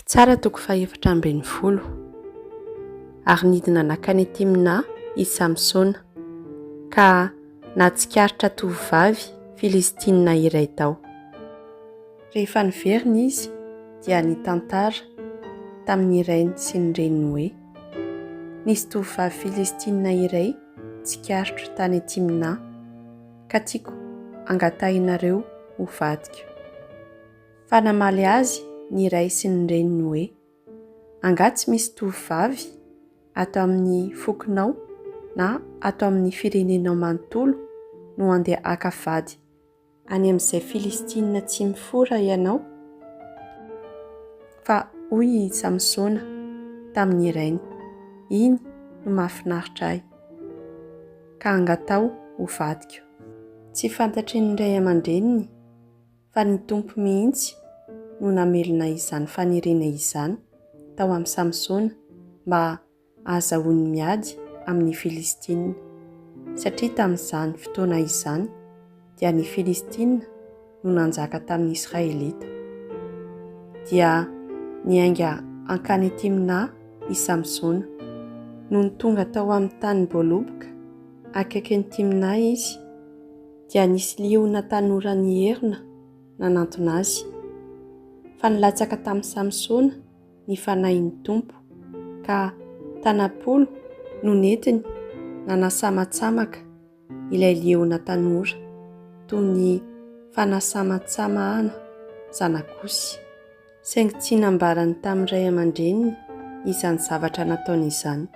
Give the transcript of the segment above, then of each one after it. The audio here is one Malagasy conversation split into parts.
Mpitsara toko fahefatra ambin'ny folo. Ary nidina nankany Timna i Samsona, ka nahatsikaritra tovovavy Filistina iray tao. Rehefa niverina izy, dia nitantara tamin'ny rainy sy ny reniny hoe, Nisy tovovavy Filistina iray tsikaritro tany Timna, ka tiako hangatahinareo ho vadiko. Fa namaly azy ny ray sy ny reniny hoe, Angaha tsy misy tovovavy ato amin'ny fokonao na ato amin'ny firenenao manontolo no handeha haka vady any amin'izay Filistina tsy mifora ianao? Fa hoy i Samsona tamin'ny rainy, Iny no mahafinaritra ahy, ka angataho ho vadiko. Tsy fantatry ny ray aman-dreniny. fa ny Tompo mihitsy no namelona izany faniriana izany tao amin'i Samsona mba hahazahoany miady amin'ny Filistina, satria tamin'izany fotoana izany dia ny Filistina no nanjaka tamin'ny Israelita. Dia niainga hankany Timna i Samsona. Nony tonga tao amin'ny tany boaloboka akaikin'i Timna izy, dia nisy liona tanora nierona nanantona azy, fa nilatsaka tamin'i Samsona ny fanahin'ny Tompo, ka tana-polo no nentiny nanasamatsamaka ilay liona tanora, toy ny fanasamatsamahana zanak'osy, saingy tsy nambarany tamin'ny ray aman-dreniny izany zavatra nataony izany.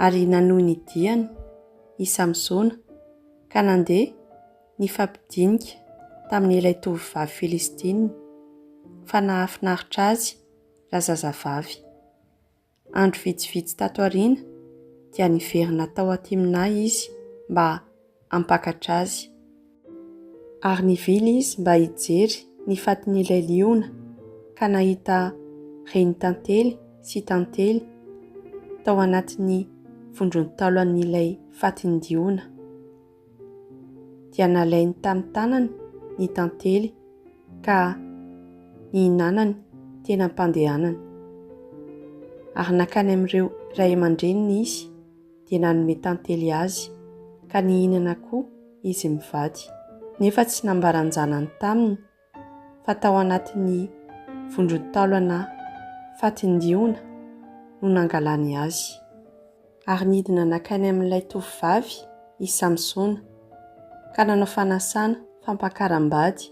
Ary nanohy ny diany. i Samsona, ka nandeha nifampidinika tamin'ilay tovovavy Filistina, fa nahafinaritra azy raha zazavavy. Andro vitsivitsy tato aoriana, dia niverina tao Timna izy mba hampakatra azy. Ary nivily izy mba hijery ny fatin'ilay liona, ka nahita renitantely sy tantely tao anatin'ny vondron-taolan'ilay fatin-diona. Dia nalainy tamin'ny tanany ny tantely ka nihinanany teny am-pandehanany. Ary nankany amin'ireo ray aman-dreniny izy. dia nanome tantely azy, ka nihinana koa izy mivady. Nefa tsy nambaran-janany taminy fa tao anatin'ny vondron-taolana fatin-diona no nangalany azy. Ary nidina nankany amin'ilay tovovavy i Samsona, ka nanao fanasana fampakaram-bady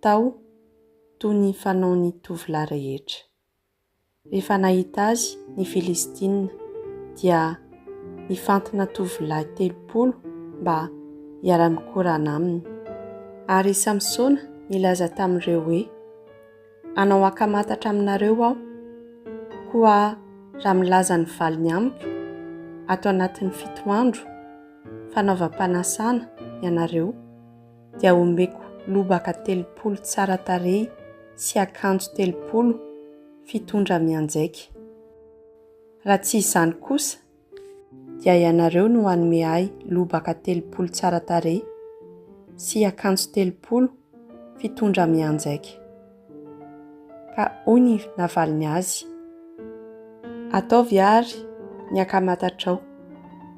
tao toy ny fanaon'ny tovolahy rehetra. Rehefa nahita azy ny Filistina, dia nifantina tovolahy telopolo mba hiara-mikorana aminy. Ary i Samsona nilaza tamin'ireo hoe, Hanao ankamantatra aminareo aho, koa raha milaza ny valiny amiko ato anatin'ny fito andro fanaovam-panasana ianareo, dia omeko lobaka telopolo tsara tarehy sy akanjo telopolo fitondra mianjaika. Raha tsy izany kosa, dia ianareo no hanome ahy lobaka telopolo tsara tarehy sy akanjo telopolo fitondra mianjaika. Ka hoy ny navaliny azy, Ataovy àry ny ankamatatrao,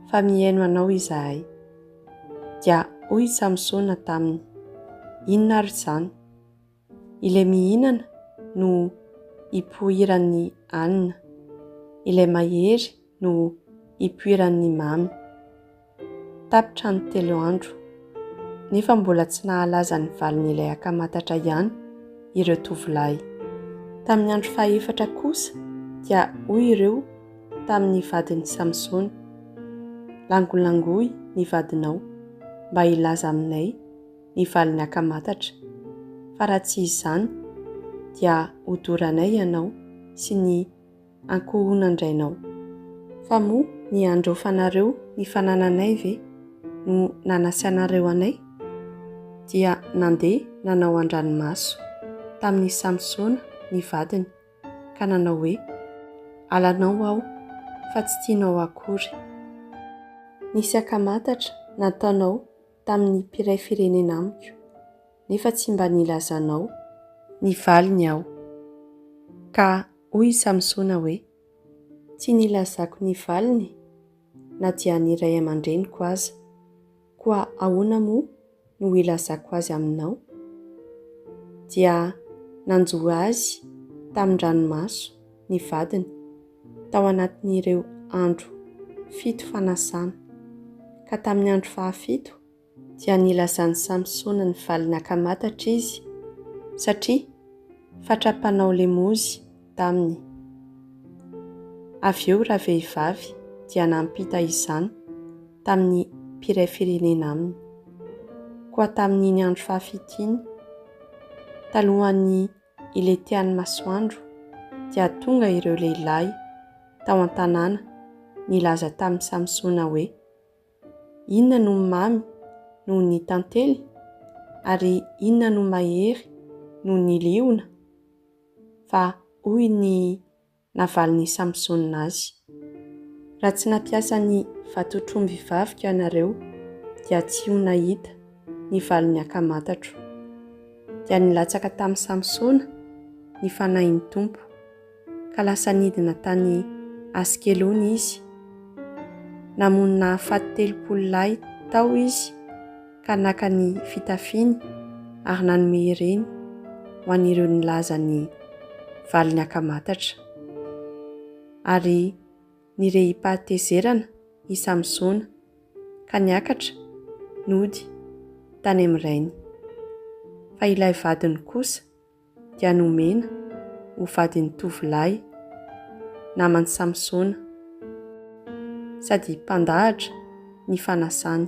fa mihaino anao izahay. Dia hoy i Samsona taminy, Inona ary izany? Ilay mihinana no ipoiran'ny hanina, ilay mahery no ipoiran'ny mamy. Tapitra ny telo andro, nefa mbola tsy nahalaza ny valin'ilay akamatatra ihany ireo tovolahy. Tamin'ny andro fahefatra kosa dia hoy ireo, tamin'ny vadin'i Samsona, Langolangoy ny vadinao, mba hilaza aminay ny valin'ny akamatatra, fa raha tsy izany, dia hodoranay ianao sy ny ankohonan-drainao. Fa moa ny handraofanareo ny fanananay ve no nanasianareo anay? Dia nandeha nanao an-dranomaso tamin'i Samsona ny vadiny. ka nanao hoe, Alanao aho, fa tsy tianao akory. Nisy ankamantatra nataonao tamin'ny mpiray firenena amiko, nefa tsy mba nilazanao ny valiny aho. Ka hoy i Samsona hoe, Tsy nilazako ny valiny na dia ny ray aman-dreniko aza. Koa ahoana moa no hilazako azy aminao? Dia nanjo azy tamin-dranomaso ny vadiny tao anatin'ireo andro fito fanasana. Ka tamin'ny andro fahafito dia nilazan'i Samsona ny valiny ankamatatra izy, satria fatra mpanao lemozy taminy. Avy eo ravehivavy dia nampita izany tamin'ny mpiray firenena aminy. Koa tamin'iny andro fahafito iny, talohan'ny hiletihan'ny masoandro, dia tonga ireo lehilahy tao an-tanàna nilaza tamin'i Samsona hoe, Inona no mamy noho ny tantely? Ary inona no mahery noho ny liona? Fa hoy ny navalin'i Samsona azy, Raha tsy nampiasa ny vatotr'omby hivavika ianareo, dia tsy ho nahita ny valin'ny ankamatatro. Dia nilatsaka tamin'i Samsona ny fanahin'ny Tompo. ka lasa nidina tany Askelona izy. Namono nahafaty telopolo lahy tao izy ka naka ny fitafiany ary nanome ireny ho an'ireo nilaza ny valiny ankamatatra. Ary nirehi-pahatezerana i Samsona ka niakatra nody tany amin'ny rainy. Fa ilay vadiny kosa, dia nomena ho vadin'ny tovolahy naman'i Samsona, sady mpandahatra ny fanasany.